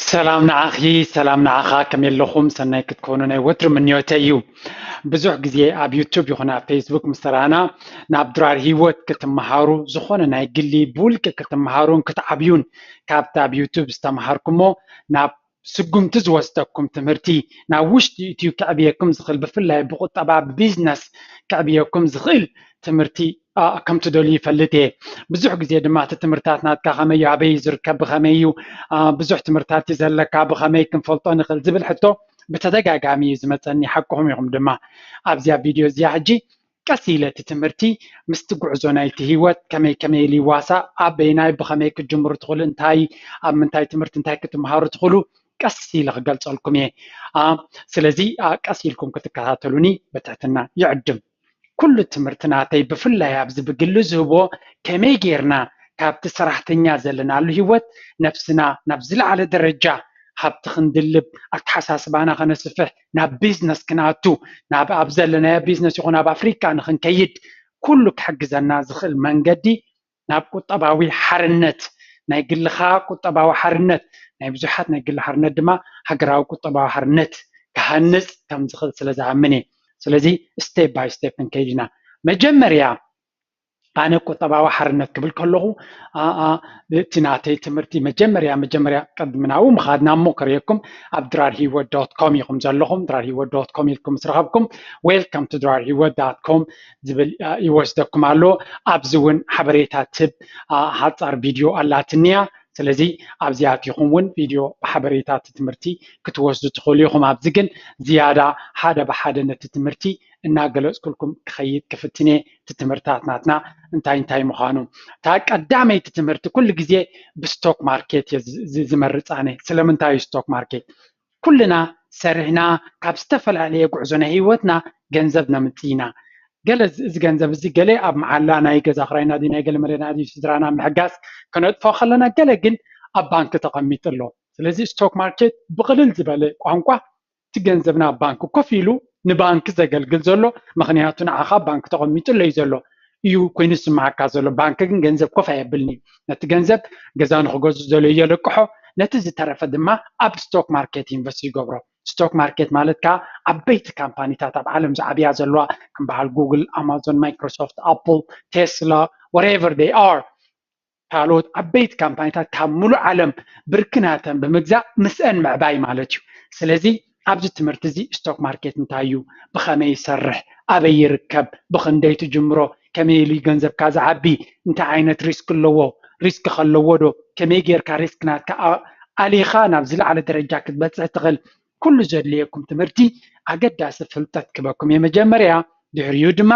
ሰላም ንዓኺ ሰላም ንዓኻ ከመይ ኣለኹም ሰናይ ክትኮኑ ናይ ወትሪ ምንዮተይ እዩ ብዙሕ ግዜ ኣብ ዩቱብ ይኹን ኣብ ፌስቡክ ምስ ተረኣና ናብ ድራር ሂወት ክትመሃሩ ዝኾነ ናይ ግሊ ብውልቂ ክትመሃሩን ክትዓብዩን ካብቲ ኣብ ዩቱብ ዝተምሃርኩሞ ናብ ስጉምቲ ዝወስደኩም ትምህርቲ ናብ ውሽጢ እትዩ ከዕብየኩም ዝኽእል ብፍላይ ብቁጠባ ብቢዝነስ ከዕብየኩም ዝኽእል ትምህርቲ a ከም ትደልዩ ይፈልጥ እየ ብዙሕ ግዜ ድማ እቲ ትምህርታት ናትካ ከመይ እዩ ኣበይ ዝርከብ ብኸመይ እዩ ብዙሕ ትምህርታት እዩ ዘለካ ብኸመይ ክንፈልጦ ንኽእል ዝብል ሕቶ ብተደጋጋሚ እዩ ዝመፀኒ ሓቅኹም ኢኹም ድማ ኣብዚያ ቪድዮ እዚኣ ሕጂ ቀስ ኢለ እቲ ትምህርቲ ምስቲ ጉዕዞ ናይቲ ህይወት ከመይ ከመይ ኢሉ ይዋሳእ ኣበይናይ ብኸመይ ክትጅምሩ ትኽእሉ እንታይ ኣብ ምንታይ ትምህርቲ እንታይ ክትምሃሩ ትኽእሉ ቀስ ኢለ ክገልፀልኩም እየ ስለዚ ቀስ ኢልኩም ክትከታተሉኒ ብትሕትና ይዕድም ኩሉ ትምህርቲ ናተይ ብፍላይ ኣብዚ ብግሊ ዝህቦ ከመይ ጌርና ካብቲ ሰራሕተኛ ዘለናሉ ሂወት ነብስና ናብ ዝለዓለ ደረጃ ሃብቲ ክንድልብ ኣተሓሳስባና ከነስፍሕ ናብ ቢዝነስ ክንኣቱ ናብ ኣብ ዘለናዮ ቢዝነስ ይኹን ኣብ ኣፍሪቃ ንኽንከይድ ኩሉ ክሕግዘና ዝኽእል መንገዲ ናብ ቁጠባዊ ሓርነት፣ ናይ ግልኻ ቁጠባዊ ሓርነት፣ ናይ ብዙሓት ናይ ግሊ ሓርነት ድማ ሃገራዊ ቁጠባዊ ሓርነት ክሃንጽ ከም ዝኽእል ስለ ዝኣምን እየ። ስለዚ step by step ክንከይድ ኢና። መጀመርያ ኣነ ቁጠባዊ ሓርነት ክብል ከለኹ እቲ ናተይ ትምህርቲ መጀመርያ መጀመርያ ቅድሚ ናብኡ ምኻድና እሞ ክርእየኩም ኣብ ድራር ሂወት ዶት ኮም ኢኹም ዘለኹም ድራር ሂወት ዶት ኮም ኢልኩም ምስ ረኸብኩም ዌልካም ቱ ድራር ሂወት ዳት ኮም ዝብል ይወስደኩም ኣሎ ኣብዚ እውን ሓበሬታ ትብ ሓፃር ቪድዮ ኣላትኒያ ስለዚ ኣብዚኣ ኣቲኹም እውን ቪድዮ ብሓበሬታ እቲ ትምህርቲ ክትወስዱ ትኽእሉ ኢኹም ኣብዚ ግን ዝያዳ ሓደ ብሓደ ነቲ ትምህርቲ እናገለፅኩልኩም ክኸይድ ክፍትነ እቲ ትምህርታት ናትና እንታይ እንታይ ምዃኑ እታ ቀዳመይቲ ትምህርቲ ኩሉ ግዜ ብስቶክ ማርኬት እየ ዝመርፃነ ስለምንታይ እዩ ስቶክ ማርኬት ኩልና ሰሪሕና ካብ ዝተፈላለየ ጉዕዞ ናይ ሂወትና ገንዘብ ነምፅእ ኢና። ገለ እዚ ገንዘብ እዚ ገለ ኣብ መዓላ ናይ ገዛ ክራይና ድዩ ናይ ገለ መለና ድዩ ስድራና ኣብ ምሕጋዝ ክነጥፎ ከለና ገለ ግን ኣብ ባንኪ ተቐሚጡ ኣሎ። ስለዚ ስቶክ ማርኬት ብቕልል ዝበለ ቋንቋ እቲ ገንዘብና ኣብ ባንኪ ኮፍ ኢሉ ንባንኪ ዘገልግል ዘሎ ምኽንያቱ ንዓኻ ኣብ ባንኪ ተቐሚጡ ኣሎ እዩ ዘሎ። እዩ ኮይኑ ዝስምዓካ ዘሎ ባንኪ ግን ገንዘብ ኮፍ ኣየብልን እዩ ነቲ ገንዘብ ገዛ ንክገዝኡ ዘለ የለቅሖ ነቲ ዝተረፈ ድማ ኣብ ስቶክ ማርኬት ኢንቨስት ይገብሮ ስቶክ ማርኬት ማለት ከዓ ዓበይቲ ካምፓኒታት ኣብ ዓለም ዝዓብያ ዘለዋ ከም በዓል ጉግል ኣማዞን ማይክሮሶፍት ኣፕል ቴስላ ወሬቨር ደይ ኣር ካልኦት ዓበይቲ ካምፓኒታት ካብ ሙሉእ ዓለም ብርኪ ናተን ብምግዛእ ምስአን ምዕባይ ማለት እዩ። ስለዚ ኣብዚ ትምህርቲ እዚ ስቶክ ማርኬት እንታይ እዩ፣ ብኸመይ ይሰርሕ፣ ኣበይ ይርከብ፣ ብኽንደይ ትጅምሮ፣ ከመይ ኢሉ እዩ ገንዘብካ ዝዓቢ፣ እንታይ ዓይነት ሪስክ ኣለዎ፣ ሪስክ ከ ኣለዎ ዶ፣ ከመይ ጌርካ ሪስክ ናትካ ኣሊኻ ናብ ዝለዓለ ደረጃ ክትበፅሕ ትኽእል፣ ኩሉ ዘድልየኩም ትምህርቲ ኣገዳሲ ፍልጠት ክህበኩም እየ መጀመርያ፣ ድሕሪኡ ድማ።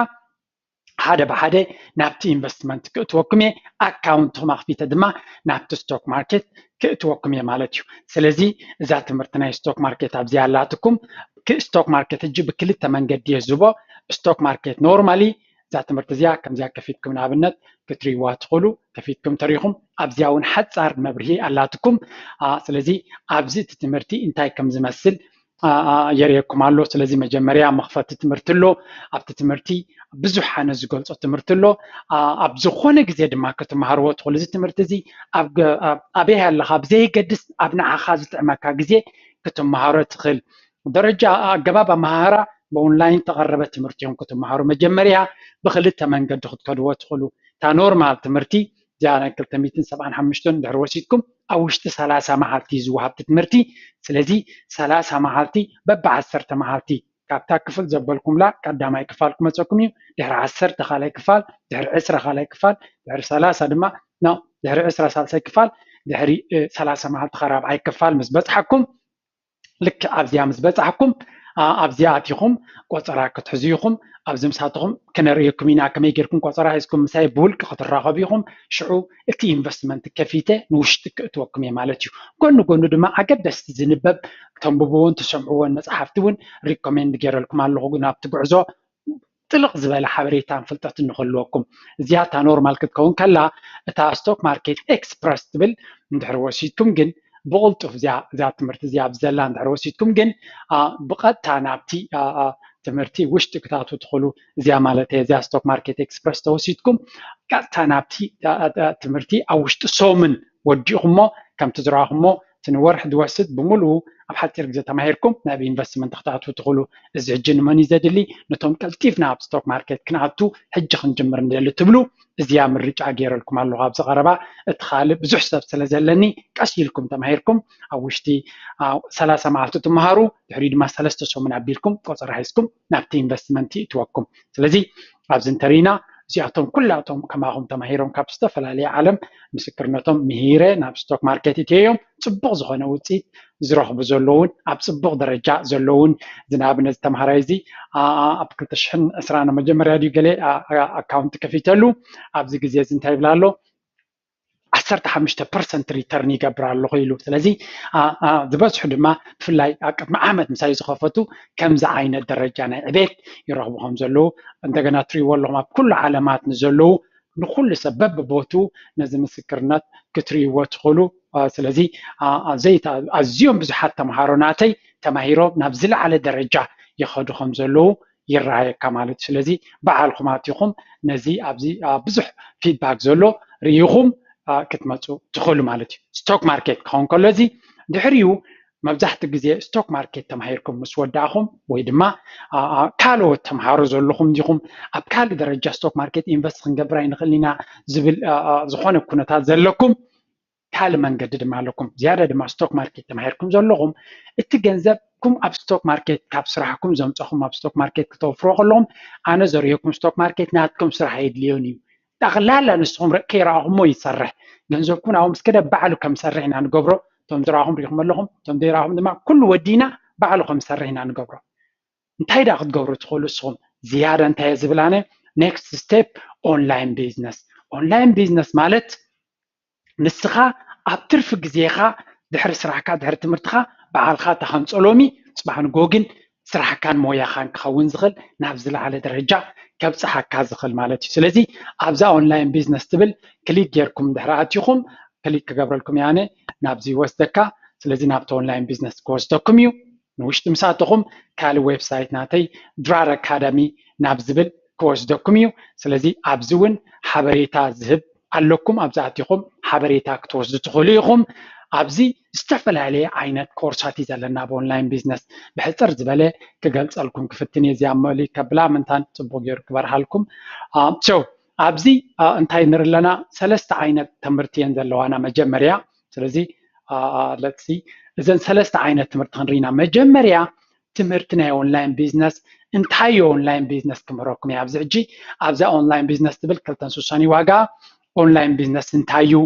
ሓደ ብሓደ ናብቲ ኢንቨስትመንት ክእትወኩም እየ ኣካውንትኩም ኣኽፊተ ድማ ናብቲ ስቶክ ማርኬት ክእትወኩም እየ ማለት እዩ ስለዚ እዛ ትምህርቲ ናይ ስቶክ ማርኬት ኣብዚኣ ኣላትኩም ስቶክ ማርኬት እጂ ብክልተ መንገዲ እየ ዝህቦ ስቶክ ማርኬት ኖርማሊ እዛ ትምህርቲ እዚኣ ከምዚኣ ከፊትኩም ንኣብነት ክትሪዋ ትኽእሉ ከፊትኩም ተሪኹም ኣብዚኣ እውን ሓፃር መብርሂ ኣላትኩም ስለዚ ኣብዚ እቲ ትምህርቲ እንታይ ከም ዝመስል የርእየኩም ኣሎ ስለዚ መጀመርያ መኽፈቲ ትምህርቲ ኣሎ ኣብቲ ትምህርቲ ብዙሕ ሓነ ዝገልፆ ትምህርቲ ኣሎ ኣብ ዝኾነ ግዜ ድማ ክትመሃርዎ ትኽእሉ እዚ ትምህርቲ እዚ ኣበይ ኣለኻ ብዘየገድስ ኣብ ንዓኻ ዝጥዕመካ ግዜ ክትመሃሮ ትኽእል ደረጃ ኣገባብ ኣመሃህራ ብኦንላይን ተቐረበ ትምህርቲ እዮም ክትመሃሩ መጀመርያ ብክልተ መንገዲ ክትከድዎ ትኽእሉ እታ ኖርማል ትምህርቲ እዚኣ ናይ ክልተ ሚእትን ሰብዓን ሓሙሽተን እንድሕር ወሲድኩም ኣብ ውሽጢ ሰላሳ መዓልቲ እዩ ዝወሃብ እቲ ትምህርቲ ስለዚ ሰላሳ መዓልቲ በቢ ዓሰርተ መዓልቲ ካብታ ክፍል ዘበልኩምላ ቀዳማይ ክፋል ክመፀኩም እዩ ድሕሪ ዓሰርተ ካልኣይ ክፋል ድሕሪ ዕስራ ካልኣይ ክፋል ድሕሪ ሰላሳ ድማ ኖ ድሕሪ ዕስራ ሳልሳይ ክፋል ድሕሪ እ፣ ሰላሳ መዓልቲ ካብ ራብዓይ ክፋል ምስ በፅሓኩም ልክዕ ኣብዚኣ ምስ በጻሕኩም ኣብዚኣ ኣቲኹም ቆጸራ ክትሕዙ ኢኹም ኣብዚ ምሳትኹም ክነርእየኩም ኢና ከመይ ጌርኩም ቆጸራ ሒዝኩም ምሳይ ብውልቂ ክትራኸቡ ኢኹም ሽዑ እቲ ኢንቨስትመንት ከፊተ ንውሽጢ ክእትወኩም እየ ማለት እዩ ጎኒ ጎኑ ድማ ኣገደስቲ ዝንበብ ተንብብዎን ትሰምዕዎን መጽሓፍቲ እውን ሪኮሜንድ ጌረልኩም ኣለኹ ናብቲ ጉዕዞ ጥልቕ ዝበለ ሓበሬታን ፍልጠትን ንክህልወኩም። እዚኣ እታ ኖርማል ክትከውን ከላ እታ ስቶክ ማርኬት ኤክስፕረስ ትብል እንድሕር ወሲድኩም ግን ብቕልጡፍ እዚኣ እዛ ትምህርቲ እዚኣ ኣብ ዘላ እንድሕር ወሲድኩም ግን ብቐጥታ ናብቲ ትምህርቲ ውሽጢ ክታቱ ትኽእሉ እዚኣ ማለት እየ እዚኣ ስቶክ ማርኬት ኤክስፕረስ ተወሲድኩም ቀጥታ ናብቲ ትምህርቲ ኣብ ውሽጢ ሶምን ወዲእኹሞ ከምቲ ዝረኣኹሞ እቲ ንወርሒ ዝወስድ ብምልኡ ኣብ ሓጺር ግዜ ተማሂርኩም ናብ ኢንቨስትመንት ክትኣትዉ ትኽእሉ። እዚ ሕጂ ንመን እዩ ዘድሊ? ነቶም ቀልጢፍና ኣብ ስቶክ ማርኬት ክንኣቱ ሕጂ ክንጅምር ንደሊ ትብሉ እዚኣ ምርጫ ገይረልኩም ኣለኹ። ኣብዚ ቀረባ እቲ ካልእ ብዙሕ ሰብ ስለ ዘለኒ ቀስ ኢልኩም ተማሂርኩም ኣብ ውሽጢ ሰላሳ መዓልቲ ትመሃሩ ድሕሪኡ ድማ ሰለስተ ሰሙን ኣቢልኩም ቆጸራ ሒዝኩም ናብቲ ኢንቨስትመንት ይእትወኩም ስለዚ ኣብዚ እንተሪኢና እዚኣቶም ኩላቶም ከማኹም ተማሂሮም ካብ ዝተፈላለየ ዓለም ምስክርነቶም ምሂረ ናብ ስቶክ ማርኬት እትዮም ፅቡቕ ዝኾነ ውፅኢት ዝረኽቡ ዘለውን ኣብ ፅቡቕ ደረጃ ዘለውን እዚ ንኣብነት ዝተምሃራይ እዚ ኣብ ክልተ ሽሕን ዕስራን መጀመርያ ድዩ ገለ ኣካውንት ከፊተሉ ኣብዚ ግዜ እዚ እንታይ ይብላ ኣሎ ዓሰርተ ሓሙሽተ ፐርሰንት ሪተርን ይገብር ኣለኹ ኢሉ ስለዚ ዝበዝሑ ድማ ብፍላይ ኣብ ቅድሚ ዓመት ምሳይ ዝኸፈቱ ከምዚ ዓይነት ደረጃ ናይ ዕቤት ይረኽቡ ከም ዘለዉ እንደገና ትሪእዎ ኣለኹም ኣብ ኩሉ ዓለማት ንዘለዉ ንኩሉ ሰብ በብቦቱ ነዚ ምስክርነት ክትሪእዎ ትኽእሉ ስለዚ ዘይታ ኣዝዮም ብዙሓት ተምሃሮ ናተይ ተማሂሮም ናብ ዝለዓለ ደረጃ ይኸዱ ከም ዘለዉ ይረኣየካ ማለት እዩ ስለዚ ባዓልኩም ኣቲኩም ነዚ ኣብዚ ብዙሕ ፊድባክ ዘሎ ሪኢኩም ክትመፁ ትክእሉ ማለት እዩ ስቶክ ማርኬት ክከውን ከሎ እዚ ድሕሪኡ መብዛሕትኡ ግዜ ስቶክ ማርኬት ተማሂርኩም ምስ ወዳእኩም ወይ ድማ ካልኦት ተምሃሩ ዘለኹም ዲኹም ኣብ ካልእ ደረጃ ስቶክ ማርኬት ኢንቨስት ክንገብር ኣይንኽእል ኢና ዝብል ዝኾነ ኩነታት ዘለኩም ካልእ መንገዲ ድማ ኣለኩም ዝያዳ ድማ ስቶክ ማርኬት ተማሂርኩም ዘለኹም እቲ ገንዘብኩም ኣብ ስቶክ ማርኬት ካብ ስራሕኩም ዘምፀኹም ኣብ ስቶክ ማርኬት ክተውፍሮ ከለኹም ኣነ ዘርእየኩም ስቶክ ማርኬት ናትኩም ስራሕ የድልዮን እዩ ጠቕላላ ንስኹም ከይረኣኹሞ ይሰርሕ ገንዘብኩም ኣብኡ ምስ ከደ ባዕሉ ከም ሰርሕ ኢና ንገብሮ እቶም ዝረኣኹም ሪኢኹም ኣለኹም እቶም ዘይረኣኹም ድማ ኩሉ ወዲና ባዕሉ ከም ሰርሕ ኢና ንገብሮ እንታይ ዳ ክትገብሩ ትኽእሉ ንስኹም ዝያዳ እንታይ ዝብል ኣነ ኔክስት ስቴፕ ኦንላይን ቢዝነስ ኦንላይን ቢዝነስ ማለት ንስኻ ኣብ ትርፊ ግዜኻ ድሕሪ ስራሕካ ድሕሪ ትምህርትኻ ባዕልኻ እታ ከም ጸሎሚ ጽባሕን ጎግን ስራሕካን ሞያኻን ክኸውን ዝኽእል ናብ ዝለዓለ ደረጃ ከብጽሓካ ዝኽእል ማለት እዩ ስለዚ ኣብዛ ኦንላይን ቢዝነስ ትብል ክሊክ ጌርኩም ድሕሪ ኣትኹም ክሊክ ክገብረልኩም እየ ኣነ ናብዚ ይወስደካ ስለዚ ናብቲ ኦንላይን ቢዝነስ ክወስደኩም እዩ ንውሽጢ ምስ ኣተኹም ካልእ ዌብሳይት ናተይ ድራር ኣካዳሚ ናብ ዝብል ክወስደኩም እዩ ስለዚ ኣብዚ እውን ሓበሬታ ዝህብ ኣለኩም ኣብዚ ኣቲኹም ሓበሬታ ክትወስዱ ትኽእሉ ኢኹም ኣብዚ ዝተፈላለየ ዓይነት ኮርሳት እዩ ዘለና ኣብ ኦንላይን ቢዝነስ ብሕፅር ዝበለ ክገልፀልኩም ክፍትን እየ እዚኣ መእልይ ከብላ ምንታን ፅቡቅ ገይሩ ክበርሃልኩም ቸው ኣብዚ እንታይ ንር ኣለና ሰለስተ ዓይነት ትምህርቲ እየን ዘለዋና መጀመርያ ስለዚ ለትሲ እዘን ሰለስተ ዓይነት ትምህርቲ ክንርኢና መጀመርያ ትምህርቲ ናይ ኦንላይን ቢዝነስ እንታይ ዩ ኦንላይን ቢዝነስ ክምህረኩም እየ ኣብዚ ሕጂ ኣብዛ ኦንላይን ቢዝነስ ትብል ክልተን ስሳን ዩ ዋጋ ኦንላይን ቢዝነስ እንታይ ዩ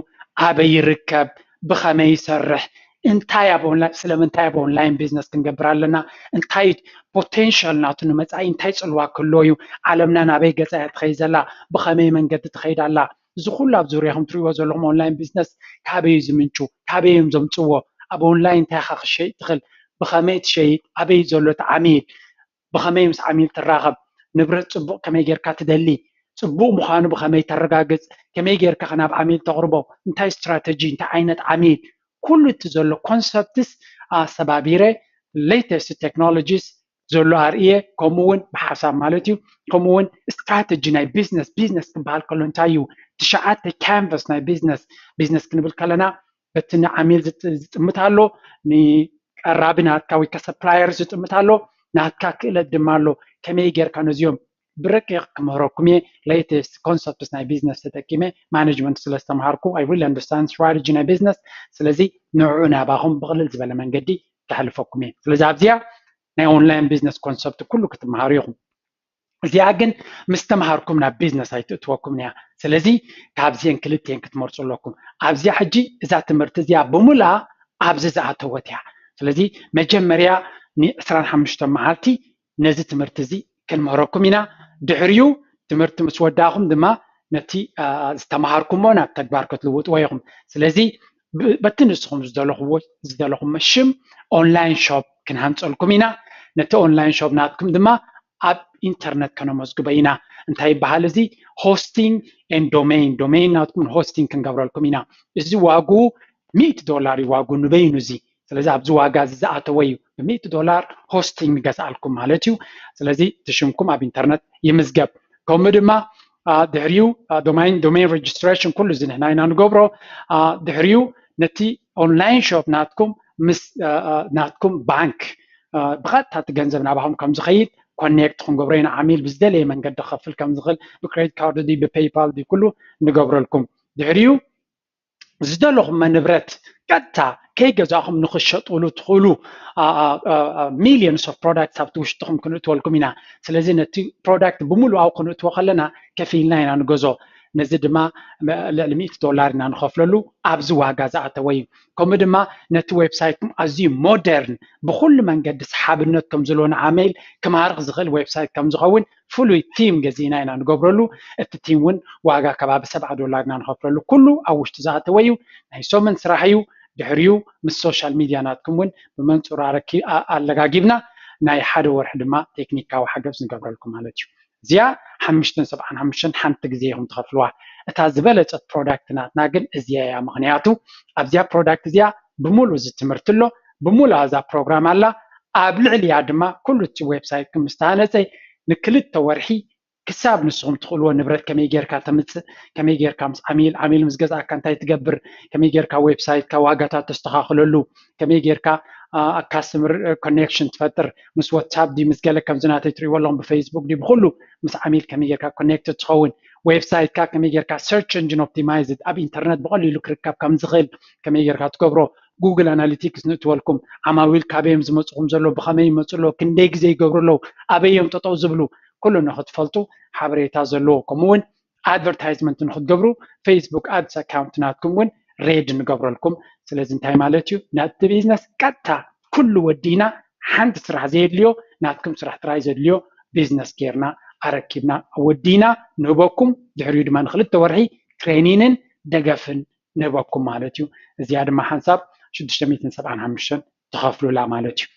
ኣበይ ይርከብ ብኸመይ ይሰርሕ እንታይ ኣብ ኦንላይን ስለምንታይ ኣብ ኦንላይን ቢዝነስ ክንገብር ኣለና እንታይ ፖቴንሻል ናቱ ንመፃኢ እንታይ ፅልዋ ክህልዎ እዩ ዓለምና ናበይ ገፃ እያ ትኸይድ ዘላ ብኸመይ መንገዲ ትኸይድ ኣላ እዚ ኩሉ ኣብ ዙርያኹም ትሪእዎ ዘለኹም ኦንላይን ቢዝነስ ካበይ እዩ ዝምንጩ? ካበይ እዮም ዘምፅዎ? ኣብ ኦንላይን እንታይ ኢኻ ክትሸይጥ ትኽእል? ብኸመይ ትሸይጥ? ኣበይ እዩ ዘሎ እቲ ዓሚል? ብኸመይ ምስ ዓሚል ትራኸብ? ንብረት ፅቡቕ ከመይ ጌርካ ትደሊ? ፅቡቕ ምዃኑ ብኸመይ ተረጋግፅ? ከመይ ጌርካ ኸ ናብ ዓሚል ተቕርቦ? እንታይ ስትራተጂ? እንታይ ዓይነት ዓሚል? ኩሉ እቲ ዘሎ ኮንሰፕትስ ኣሰባቢረ ሌተስት ቴክኖሎጂስ ዘሎ ኣርእየ ከምኡ እውን ብሓሳብ ማለት እዩ ከምኡ እውን ስትራተጂ ናይ ቢዝነስ ቢዝነስ ክበሃል ከሎ እንታይ እዩ ትሽዓተ ካንቨስ ናይ ቢዝነስ ቢዝነስ ክንብል ከለና በቲ ንዓሚል ዝጥምት ኣሎ ንቀራቢ ናትካ ወይ ከሰፕላየር ዝጥምት ኣሎ ናትካ ክእለት ድማ ኣሎ ከመይ ጌርካ ነዚኦም ብረቂቕ ክምህረኩም እየ latest concepts ናይ ቢዝነስ ተጠቂመ ማነጅመንት ስለ ዝተምሃርኩ I really understand strategy ናይ ቢዝነስ ስለዚ ንዑዑ ናባኹም ብቕልል ዝበለ መንገዲ ከሕልፈኩም እየ ስለዚ ኣብዚኣ ናይ ኦንላይን ቢዝነስ ኮንሰፕት ኩሉ ክትምሃሩ ኢኹም እዚኣ ግን ምስ ተምሃርኩም ናብ ቢዝነስ ኣይትእትወኩምን እያ ስለዚ ካብዚአን ክልቲኤን ክትመርፁ ኣለኩም ኣብዚኣ ሕጂ እዛ ትምህርቲ እዚኣ ብምልኣ ኣብዚ ዝኣተወት እያ ስለዚ መጀመርያ ን25 መዓልቲ ነዚ ትምህርቲ እዚ ክንምህረኩም ኢና ድሕሪኡ ትምህርቲ ምስ ወዳእኹም ድማ ነቲ ዝተምሃርኩሞ ናብ ተግባር ክትልውጥዎ ኢኹም ስለዚ በቲ ንስኹም ዝደለኹዎ ዝደለኹሞ ሽም ኦንላይን ሾፕ ክንሃንፀልኩም ኢና ነቲ ኦንላይን ሾፕ ናትኩም ድማ ኣብ ኢንተርነት ከነመዝግበ ኢና እንታይ ይበሃል እዚ ሆስቲንግ ን ዶሜይን ዶሜይን ናትኩም ሆስቲንግ ክንገብረልኩም ኢና እዚ ዋግኡ ሚእቲ ዶላር እዩ ዋግኡ ንበይኑ እዚ ስለዚ ኣብዚ ዋጋ እዚ ዝኣተወ እዩ ብሚእቲ ዶላር ሆስቲንግ ንገዝኣልኩም ማለት እዩ ስለዚ እቲ ሽምኩም ኣብ ኢንተርነት ይምዝገብ ከምኡ ድማ ድሕሪኡ ዶማይን ዶሜን ሬጅስትሬሽን ኩሉ እዚ ንሕና ኢና ንገብሮ ድሕሪኡ ነቲ ኦንላይን ሾፕ ናትኩም ምስ ናትኩም ባንክ ብቐጥታ እቲ ገንዘብ ናባኹም ከም ዝኸይድ ኮኔክት ክንገብሮ ኢና ዓሚል ብዝደለየ መንገዲ ክኸፍል ከም ዝኽእል ብክሬዲት ካርድ ዲ ብፔይፓል ዲ ኩሉ ንገብረልኩም ድሕሪኡ ዝደለኹም ንብረት ቀጥታ ከይገዛእኹም ንክሸጥሉ ትኽእሉ ሚሊዮንስ ኦፍ ፕሮዳክት ኣብቲ ውሽጥኹም ክንእትወልኩም ኢና ስለዚ ነቲ ፕሮዳክት ብምሉኣው ክንእትዎ ከለና ከፊልና ኢና ንገዞ ነዚ ድማ ልዕሊ ሚእቲ ዶላር ኢና ንኸፍለሉ ኣብዚ ዋጋ ዝኣተወ እዩ ከምኡ ድማ ነቲ ዌብሳይትኩም ኣዝዩ ሞደርን ብኩሉ መንገዲ ሰሓብነት ከም ዘለዎ ንዓመይል ክማርኽ ዝኽእል ዌብሳይት ከም ዝኸውን ፍሉይ ቲም ገዚእና ኢና ንገብረሉ እቲ ቲም ውን ዋጋ ከባቢ ሰብዓ ዶላር ኢና ንኸፍለሉ ኩሉ ኣብ ውሽጡ ዝኣተወ ዩ ናይ ሰሙን ስራሕ ዩ ድሕሪኡ ምስ ሶሻል ሚድያ ናትኩም ውን ብመንፅሩ ኣለጋጊብና ናይ ሓደ ወርሒ ድማ ቴክኒካዊ ሓገዝ ንገብረልኩም ማለት ዩ እዚኣ ሓምሽተን ሰብዓን ሓሙሽተን ሓንቲ ግዜ ኢኹም ትኸፍልዋ እታ ዝበለፀት ፕሮዳክት ናትና ግን እዚኣ እያ ምኽንያቱ ኣብዚኣ ፕሮዳክት እዚኣ ብምሉኡ እዚ ትምህርቲ ኣሎ ብሙሉኣ እዛ ፕሮግራም ኣላ ኣብ ልዕሊኣ ድማ ኩሉ እቲ ዌብሳይት ክም ዝተሃነፀ ንክልተ ወርሒ ክሳብ ንስኹም ትኽእልዎ ንብረት ከመይ ጌርካ ተምፅእ ከመይ ጌርካ ምስ ዓሚል ዓሚል ምስ ገዝኣካ እንታይ ትገብር ከመይ ጌርካ ዌብሳይትካ ዋጋታት ተስተኻኽለሉ ከመይ ጌርካ ካስትምር ኮኔክሽን ትፈጥር ምስ ዋትሳፕ ዲ ምስ ገለ ከምዚ ናተይ ትሪእዎ ኣለኹም ብፌስቡክ ዲ ብኩሉ ምስ ዓሚል ከመይ ጌርካ ኮኔክት ትኸውን ዌብሳይትካ ከመይ ጌርካ ሰርች እንጂን ኦፕቲማይዝድ ኣብ ኢንተርነት ብቐሊሉ ክርከብ ከም ዝኽእል ከመይ ጌርካ ትገብሮ ጉግል ኣናሊቲክስ ንእትወልኩም ዓማዊል ካበዮም ዝመፅኹም ዘሎ ብኸመይ ይመፁ ኣለዉ ክንደይ ግዜ ይገብሩ ኣለዉ ኣበዮም ጠጠው ዝብሉ ኩሉ ንክትፈልጡ ሓበሬታ ዘለዎ ከምኡ እውን ኣድቨርታይዝመንት ንክትገብሩ ፌስቡክ ኣድስ ኣካውንት ናትኩም እውን ሬድ ንገብረልኩም ስለዚ እንታይ ማለት እዩ ናቲ ቢዝነስ ቀጥታ ኩሉ ወዲና ሓንቲ ስራሕ ዘየድልዮ ናትኩም ስራሕ ጥራይ ዘድልዮ ቢዝነስ ጌርና ኣረኪብና ወዲና ንህበኩም ድሕሪኡ ድማ ንክልተ ወርሒ ትሬኒንን ደገፍን ንህበኩም ማለት እዩ እዚኣ ድማ ሓንሳብ ሽዱሽተ ሚእትን ሰብዓን ሓሙሽተን ትኸፍሉላ ማለት እዩ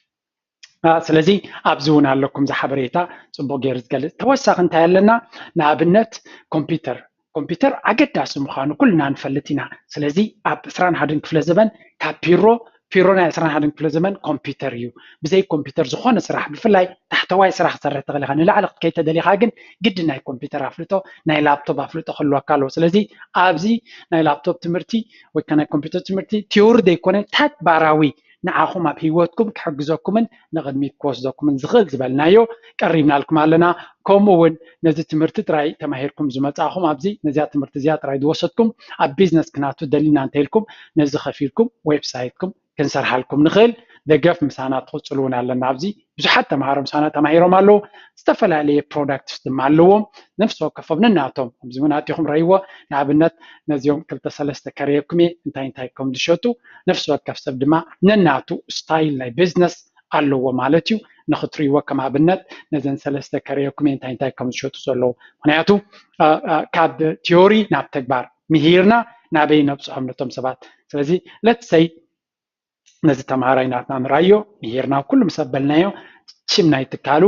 ስለዚ ኣብዚ እውን ኣለኩም እዚ ሓበሬታ ፅቡቅ ገይሩ ዝገልፅ ተወሳኺ እንታይ ኣለና ንኣብነት ኮምፒተር ኮምፒተር ኣገዳሲ ምዃኑ ኩልና ንፈልጥ ኢና ስለዚ ኣብ ዕስራን ሓደን ክፍለ ዘበን ካብ ፒሮ ፒሮ ናይ ዕስራን ሓደን ክፍለ ዘመን ኮምፒተር እዩ። ብዘይ ኮምፒተር ዝኾነ ስራሕ ብፍላይ ታሕተዋይ ስራሕ ክትሰርሕ ትኽእል ኢኻ። ንላዕሊ ክትከይድ ተደሊኻ ግን ግድን ናይ ኮምፒተር ኣፍልጦ ናይ ላፕቶፕ ኣፍልጦ ክህልወካ ኣለዎ። ስለዚ ኣብዚ ናይ ላፕቶፕ ትምህርቲ ወይ ከኣ ናይ ኮምፒተር ትምህርቲ ቲዮሪ ዘይኮነ ተግባራዊ ንዓኹም ኣብ ሂወትኩም ክሕግዘኩምን ንቕድሚት ክወስደኩምን ዝኽእል ዝበልናዮ ቀሪብናልኩም ኣለና። ከምኡ እውን ነዚ ትምህርቲ ጥራይ ተማሂርኩም ዝመጻእኹም ኣብዚ ነዚኣ ትምህርቲ እዚኣ ጥራይ ዝወሰድኩም ኣብ ቢዝነስ ክናቱ ደሊና እንተኢልኩም ነዚ ከፊልኩም ዌብሳይትኩም ክንሰርሓልኩም ንኽእል ደገፍ ምሳና ትቕጽሉ እውን ኣለና። ኣብዚ ብዙሓት ተምሃሮ ምሳና ተማሂሮም ኣለዉ። ዝተፈላለየ ፕሮዳክትስ ድማ ኣለዎም ነፍሲ ወከፎም ነናቶም ከምዚ እውን ኣቲኹም ረይዎ ንኣብነት ነዚኦም ክልተ ሰለስተ ከረየኩም እየ እንታይ እንታይ ከም ዝሸጡ ነፍሲ ወከፍ ሰብ ድማ ነናቱ ስታይል ናይ ቢዝነስ ኣለዎ ማለት እዩ ንክትሪዎ ከም ኣብነት ነዘን ሰለስተ ከረየኩም እንታይ እንታይ ከም ዝሸጡ ዘለዉ ምክንያቱ ካብ ቲዮሪ ናብ ተግባር ምሂርና ናበይ ነብፅሖም ነቶም ሰባት ስለዚ ለትሰይ ነዚ ተምሃራይ ናትና ንራዮ ምሂርና ኩሉ ምስ ኣበልናዮ ሽም ናይ ትካሉ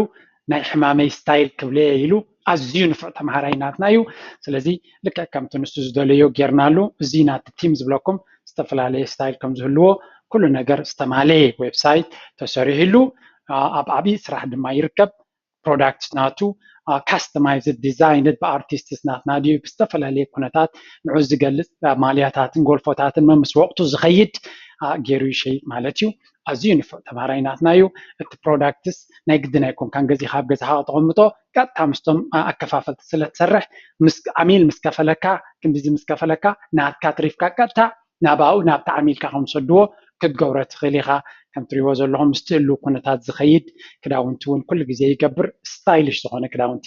ናይ ሕማመይ ስታይል ክብለየ ኢሉ ኣዝዩ ንፉዕ ተምሃራይ ናትና እዩ ስለዚ ልክዕ ከምቲ ንሱ ዝደለዮ ጌርናሉ እዚ ናቲ ቲም ዝብለኩም ዝተፈላለየ ስታይል ከም ዝህልዎ ኩሉ ነገር ዝተማለየ ዌብሳይት ተሰሪሕሉ ኣብ ዓብዪ ስራሕ ድማ ይርከብ ፕሮዳክት ናቱ ካስተማይዝድ ዲዛይንድ ብኣርቲስትስ ናትና ድዩ ብዝተፈላለየ ኩነታት ንዑ ዝገልፅ ማልያታትን ጎልፎታትን መምስ ወቕቱ ዝኸይድ ገይሩ ይሸይጥ ማለት እዩ ኣዝዩ ንፉዕ ተምሃራይ ናትና እዩ። እቲ ፕሮዳክትስ ናይ ግድን ኣይኮንካን ገዚእኻ ኣብ ገዛኻ ከተቐምጦ ቀጥታ ምስቶም ኣከፋፈልቲ ስለትሰርሕ ምስ ዓሚል ምስ ከፈለካ ክንድዚ ምስ ከፈለካ ናትካ ኣትሪፍካ ቀጥታ ናብኡ ናብቲ ዓሚልካ ከምዝሰድዎ ክትገብሮ ትኽእል ኢኻ። ከም ትሪእዎ ዘለኹም ምስቲ ህልው ኩነታት ዝኸይድ ክዳውንቲ እውን ኩሉ ግዜ ይገብር ስታይልሽ ዝኾነ ክዳውንቲ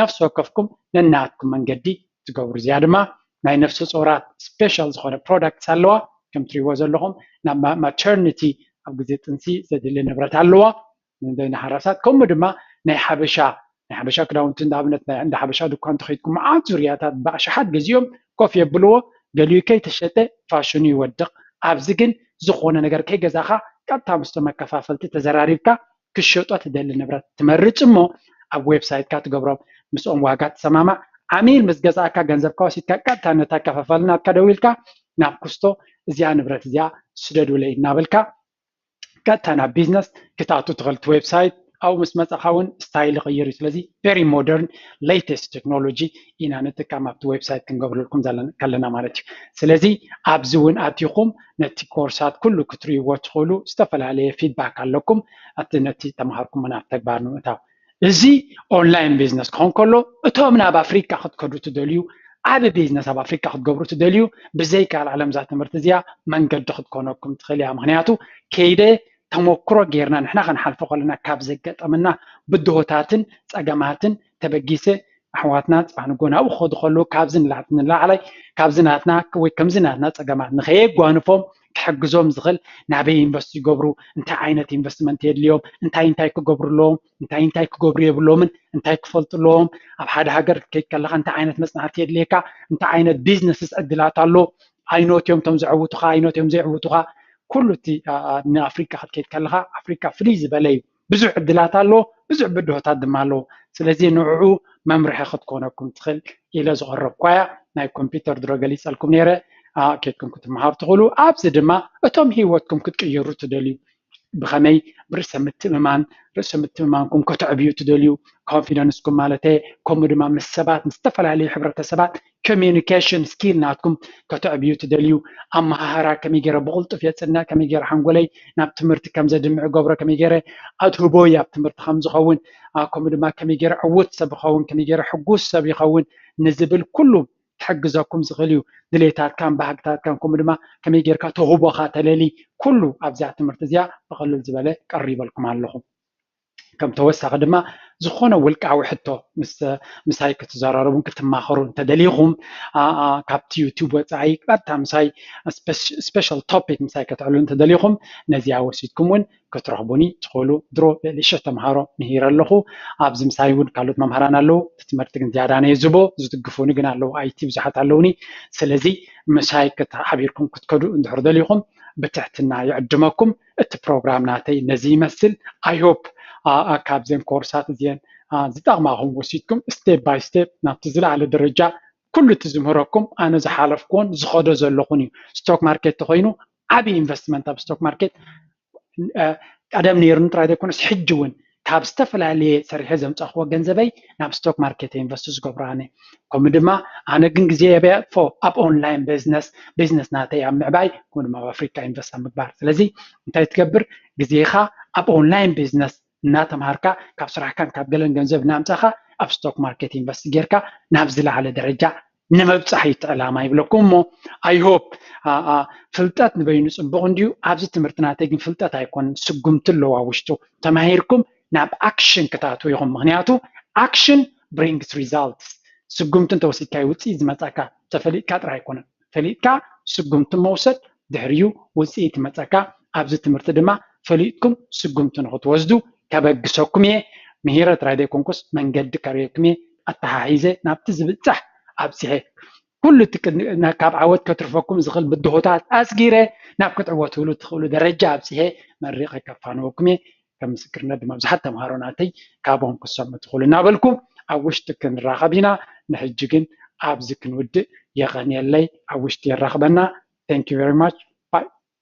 ነፍሲ ወከፍኩም ነናትኩም መንገዲ ትገብሩ እዚኣ ድማ ናይ ነፍሰ ጾራት ስፔሻል ዝኾነ ፕሮዳክትስ ኣለዋ ከም ትሪእዎ ዘለኹም ናብ ማተርኒቲ ኣብ ግዜ ጥንሲ ዘድሊ ንብረት ኣለዋ ንደይና ሓራሳት ከምኡ ድማ ናይ ሓበሻ ናይ ሓበሻ ክዳውንቲ ንኣብነት ናይ እንዳ ሓበሻ ድኳን እንተኸይድኩም መዓት ዙርያታት ብኣሽሓት ገዚኦም ኮፍ የብልዎ ገሊኡ ከይተሸጠ ፋሽኑ ይወድቕ ኣብዚ ግን ዝኾነ ነገር ከይገዛኻ ቀጥታ ምስቶም ኣከፋፈልቲ ተዘራሪብካ ክትሸጦ ትደሊ ንብረት ትመርጽ እሞ ኣብ ዌብሳይትካ ትገብሮ ምስኦም ዋጋ ትሰማማዕ ዓሚል ምስ ገዝኣካ ገንዘብካ ወሲድካ ቀጥታ ነታ ከፋፋሊ ናትካ ደዊልካ ናብ ኩስቶ እዚኣ ንብረት እዚኣ ስደዱለይ እናበልካ ቀጥታ ናብ ቢዝነስ ክትኣቱ ትኽእል እቲ ዌብሳይት ኣብኡ ምስ መጻኻ እውን ስታይል ይቕይር እዩ ስለዚ ቨሪ ሞደርን ሌተስት ቴክኖሎጂ ኢና ንጥቀም ኣብቲ ዌብሳይት ክንገብረልኩም ከለና ማለት እዩ ስለዚ ኣብዚ እውን ኣቲኹም ነቲ ኮርሳት ኩሉ ክትርእይዎ ትኽእሉ ዝተፈላለየ ፊድባክ ኣለኩም ኣቲ ነቲ ተምሃርኩሞ ናብ ተግባር ንምእታው እዚ ኦንላይን ቢዝነስ ክኾን ከሎ እቶም ናብ ኣፍሪካ ክትከዱ ትደልዩ ዓብ ቢዝነስ ኣብ ኣፍሪካ ክትገብሩ ትደልዩ ብዘይካል ዓለም እዛ ትምህርቲ እዚኣ መንገዲ ክትኮነኩም ትኽእል እያ ምክንያቱ ከይደ ተሞክሮ ጌርና ንሕና ከንሓልፎ ከለና ካብ ዘገጠመና ብድሆታትን ፀገማትን ተበጊሰ ኣሕዋትና ፅባሕ ንጎ ናብኡ ክኸዱ ከለዉ ካብዚ ንላዕላይ ካብዚ ናትና ወይ ከምዚ ናትና ፀገማት ንኸየጓንፎም ክሕግዞም ዝኽእል ናበይ ኢንቨስት ይገብሩ እንታይ ዓይነት ኢንቨስትመንት የድልዮም እንታይ እንታይ ክገብሩ ኣለዎም እንታይ እንታይ ክገብሩ የብሎምን እንታይ ክፈልጡ ኣለዎም ኣብ ሓደ ሃገር ክትከይድ ከለካ እንታይ ዓይነት መፅናዕቲ የድልየካ እንታይ ዓይነት ቢዝነስስ ዕድላት ኣሎ ኣይኖት እዮም እቶም ዘዕውቱካ ኣይኖት እዮም ዘይዕውቱካ ኩሉ እቲ ንኣፍሪካ ክትከይድ ከለካ ኣፍሪካ ፍልይ ዝበለ እዩ ብዙሕ ዕድላት ኣሎ፣ ብዙሕ ብድሆታት ድማ ኣሎ። ስለዚ ንዕዑ መምርሒ ክትኮነኩም ትኽእል ኢለ ዝቐረብኩዋያ ናይ ኮምፒተር ድሮ ገሊጸልኩም ነይረ። ኬድኩም ክትመሃሩ ትኽእሉ። ኣብዚ ድማ እቶም ህይወትኩም ክትቅይሩ ትደልዩ ብኸመይ ብርእሰ ምትእምማን ርእሰ ምትእምማንኩም ከተዕብዩ ትደልዩ ኮንፊደንስኩም ማለተ ከምኡ ድማ ምስ ሰባት ምስ ዝተፈላለዩ ሕብረተሰባት ኮሚኒኬሽን ስኪል ናትኩም ከተዕብዩ ትደልዩ? ኣመሃህራ ከመይ ገይረ ብቕልጡፍ የፅንዕ? ከመይ ገይረ ሓንጎለይ ናብ ትምህርቲ ከም ዘድምዕ እገብሮ? ከመይ ገይረ ኣድህቦይ ኣብ ትምህርቲ ከም ዝኸውን? ከምኡ ድማ ከመይ ገይረ ዕዉት ሰብ ይኸውን? ከመይ ገይረ ሕጉስ ሰብ ይኸውን? ንዝብል ኩሉ ክሕግዘኩም ዝኽእል እዩ። ድሌታትካን ባህግታትካን ከምኡ ድማ ከመይ ጌርካ ተውህቦኻ ተለሊ ኩሉ ኣብዛ ትምህርቲ እዚኣ ብቐልል ዝበለ ቀሪበልኩም ኣለኹ። ከም ተወሳኺ ድማ ዝኾነ ውልቃዊ ሕቶ ምሳይ ክትዘራረቡን ክትማኸሩን እንተደሊኹም ካብቲ ዩቱብ ወፃኢ ቀጥታ ምሳይ ስፔሻል ቶፒክ ምሳይ ከተዕሉ እንተደሊኹም ነዚኣ ወሲድኩም እውን ክትረኽቡኒ ትኽእሉ ድሮ ልዕሊ ሽሕ ተምሃሮ ምሂረ ኣለኹ ኣብዚ ምሳይ እውን ካልኦት መምሃራን ኣለዉ እቲ ትምህርቲ ግን ዝያዳ ነየ ዝቦ ዝድግፉኒ ግን ኣለዉ ኣይቲ ብዙሓት ኣለውኒ ስለዚ ምሳይ ሓቢርኩም ክትከዱ እንድሕር ደሊኹም ብትሕትና ይዕድመኩም እቲ ፕሮግራም ናተይ ነዚ ይመስል ኣይ ሆፕ ካብዘን ኮርሳት እዚአን ዝጠቕማኹም ወሲድኩም ስቴፕ ባይ ስቴፕ ናብቲ ዝለዓለ ደረጃ ኩሉ እቲ ዝምህረኩም ኣነ ዝሓለፍኩዎን ዝኸዶ ዘለኹን እዩ ስቶክ ማርኬት ተኮይኑ ዓብዪ ኢንቨስትመንት ኣብ ስቶክ ማርኬት ቀደም ነይሩኒ ጥራይ ዘይኮነስ ሕጂ እውን ካብ ዝተፈላለየ ሰሪሐ ዘምፃክዎ ገንዘበይ ናብ ስቶክ ማርኬት እየ ኢንቨስት ዝገብሮ ኣነ ከምኡ ድማ ኣነ ግን ግዜ የብፎ ኣብ ኦንላይን ቢዝነስ ቢዝነስ ናተይ ኣብ ምዕባይ ከምኡ ድማ ኣብ ኣፍሪካ ኢንቨስት ኣብ ምግባር ስለዚ እንታይ ትገብር ግዜካ ኣብ ኦንላይን ቢዝነስ እናተምሃርካ ካብ ስራሕካን ካብ ገለን ገንዘብ እናምፃእካ ኣብ ስቶክ ማርኬት ኢንቨስት ጌርካ ናብ ዝለዓለ ደረጃ ንምብፃሕ እዩ እቲ ዕላማ ይብለኩም እሞ ኣይሆፕ ፍልጠት ንበይኑ ፅቡቕ እንድዩ ኣብዚ ትምህርቲ ናተይ ግን ፍልጠት ኣይኮንን ስጉምቲ ኣለዎ ኣብ ውሽጡ ተማሂርኩም ናብ ኣክሽን ክትኣትዉ ኢኹም ምክንያቱ ኣክሽን ብሪንግስ ሪዛልትስ ስጉምቲ እንተወሲድካዮ ውፅኢት ዝመፃካ ተፈሊጥካ ጥራሕ ኣይኮነን ፈሊጥካ ስጉምቲ መውሰድ ድሕሪኡ ውፅኢት ይመፀካ ኣብዚ ትምህርቲ ድማ ፈሊጥኩም ስጉምቲ ንክትወስዱ ከበግሰኩም እየ ምሂረት ራይድ ኣይኮንኩስ መንገዲ ከርእየኩም እየ ኣተሓሒዘ ናብቲ ዝብፃሕ ኣብፂሐ ኩሉ እቲ ካብ ዓወት ከትርፈኩም ዝኽእል ብድሆታት ኣስጊረ ናብ ክትዕወትሉ ትኽእሉ ደረጃ ኣብፂሐ መሪቐ ከፋንወኩም እየ ከም ምስክርነት ድማ ብዙሓት ተምሃሮ ናተይ ካብኦም ክትሰምዑ ትኽእሉ እናበልኩ ኣብ ውሽጢ ክንራኸብ ኢና ንሕጂ ግን ኣብዚ ክንውድእ የቐንየለይ ኣብ ውሽጢ የራኽበና thank you very much bye